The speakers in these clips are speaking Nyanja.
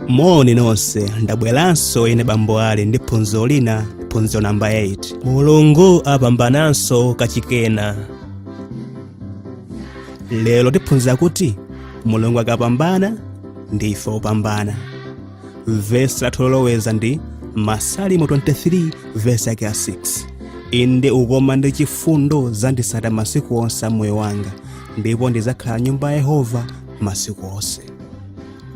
moni nonse ndabweranso ine bambo ali ndi phunziro lina phunziro namba 8 mulungu apambananso kachikenanso lero tiphunzira kuti mulungu akapambana ndife opambana vesi lathu loloweza ndi masalimo 23 vesi yake ya 6 inde ukoma ndi chifundo zidzanditsata masiku onse a moyo wanga ndipo ndidzakhala m'nyumba ya yehova masiku onse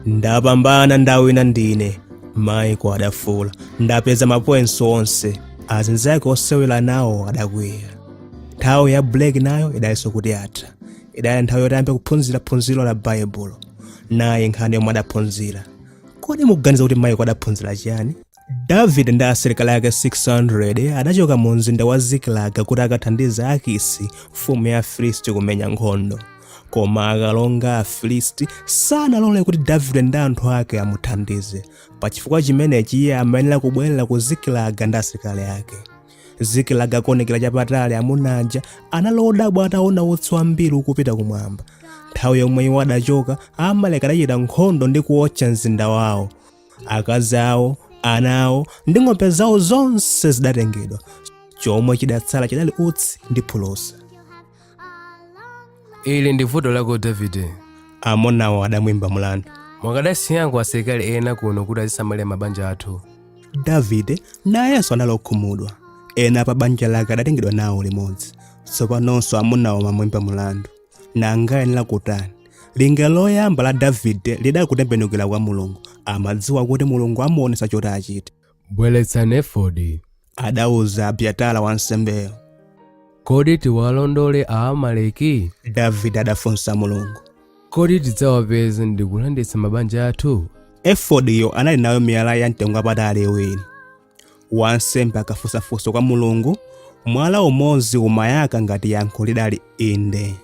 ndapambana ndawina ndine Maiko adafuula ndapeza mapointsi onse azinzake osewera nawo adakwiya nthawi ya break nayo idali itangotha idali nthawi yoti ayambe kuphunzira phunziro la baibulo naye nkhani yomwe adaphunzira kodi mukuganiza kuti Maiko adaphunzira chiyani davide ndi asilikali ake 600 adachoka mu mzinda wa zikilaga kuti akathandize akisi mfumu ya afilisti kumenya nkhondo koma akalonga a afilisti sanalole kuti davide ndi anthu ake amuthandize pachifukwa chimenechi iye amayenera kubwerera ku zikilaga ndi asilikali ake zikilaga akuonekera chapatali amuna aja anali odabwa ataona utsi wambiri ukupita kumwamba nthawi yomwe iwo adachoka Aamaleki adachita nkhondo ndi kuotcha mzinda wawo akazi awo ana awo ndi ng'ombe zawo zonse zidatengedwa chomwe chidatsala chidali utsi ndi phulusa ili ndi vuto lako davide amunawo adamuimba mlandu mukadasiyako asilikali ena kuno kuti azisamalira mabanja athu davide nayenso anali okhumudwa ena pa banja lake adatengedwa nawo limodzi tsopanonso amunawo amamuimba mlandu nanga amayenera kutani linga loyamba la davide lidali kutembenukira kwa mulungu amadziwa kuti mulungu amuonetsa choti achite Bweretsani efodi. adauza abyatara wansembeyo Kodi tiwalondole Aamaleki? davide adafunsa mulungu Kodi tidzawapeza ndi kulanditsa mabanja athu? efodiyo anali nayo miyala ya mtengo wapatali iwiri wansembe akafunsa funso kwa mulungu mwala umodzi umayaka ngati yankho lidali inde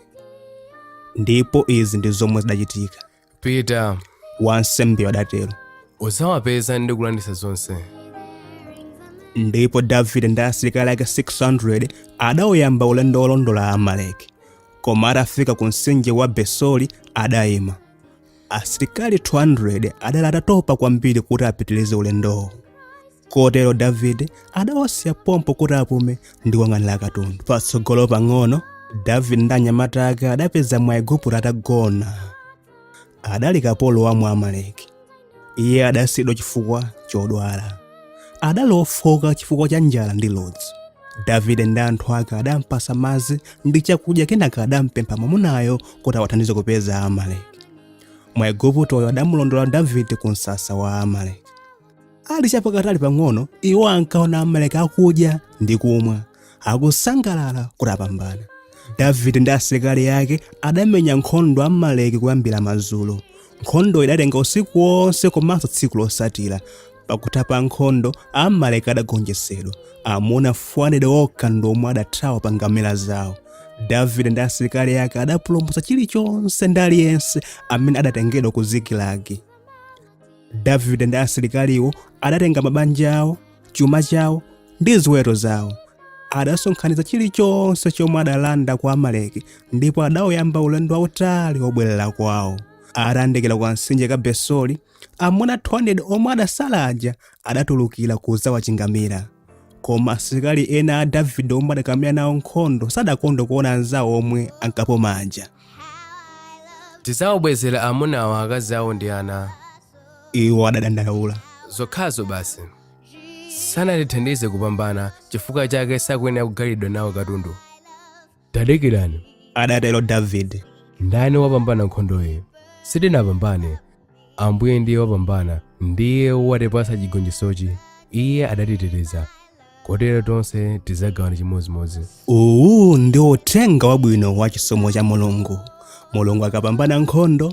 ndipo izi ndi zomwe zidachitika pita wansembe adatero udzawapeza ndi kulanditsa zonse ndipo davide ndi asilikali ake 600 adawuyamba ulendo wolondola Aamaleki koma atafika ku mtsinje wa besori adayima asilikali 200 adali atatopa kwambiri kuti apitirize ulendowo kotero davide adawasiya pompo kuti apume ndi kuyang'anira katundu patsogolo pang'ono davide ndi anyamata ake adapeza mwaigupto atagona adali kapolo wa mwamaleki iye adasiyidwa chifukwa chodwala adali ofoka chifukwa cha njala ndi ludzu davide ndi anthu ake adampasa madzi ndi chakudya kenaka adampempha mwamunayo kuti awathandize kupeza amaleki mwaiguptoyo adamulondola davide ku msasa wa amaleki ali chapatali pang'ono iwo ankaona amaleki akudya ndi kumwa akusangalala kuti apambana davide ndi asilikali ake adamenya nkhondo amaleki kuyambira madzulo nkhondoyo idatenga usiku wonse komanso tsiku losatira pakutha pa nkhondo amaleki adagonjetsedwa amuna 400 okha ndi omwe adathawa pa ngamira zawo davide ndi asilikali ake adapulumutsa chilichonse ndi aliyense amene adatengedwa ku zikilagi davide ndi asilikaliwo adatenga mabanja awo chuma chawo ndi ziweto zawo adasonkhanitsa chilichonse chomwe adalanda kwa amaleki ndipo adawuyamba ulendo wautali wobwerera kwawo atayandikira kamtsinje ka besori amuna 200 omwe adasala aja adatulukira kudzawachingamira koma asilikali ena a davide omwe adakamenya nawo nkhondo sadakondwe kuona anzawo omwe ankapuma aja tidzawabwezera amunawo akazi awo ndi ana iwo adadandaula zokhazo basi sanatithandize kupambana chifukwa chake sakuyenera kugalidwa nawo katundu tadikirani adatero davide ndani wapambana nkhondoyi sitinapambane ambuye ndiye wapambana ndiye watipasa chigonjetsochi iye adatiteteza kotero tonse tidzagawana chimodzimodzi uwu ndi uthenga wabwino wa chisomo cha mulungu mulungu akapambana nkhondo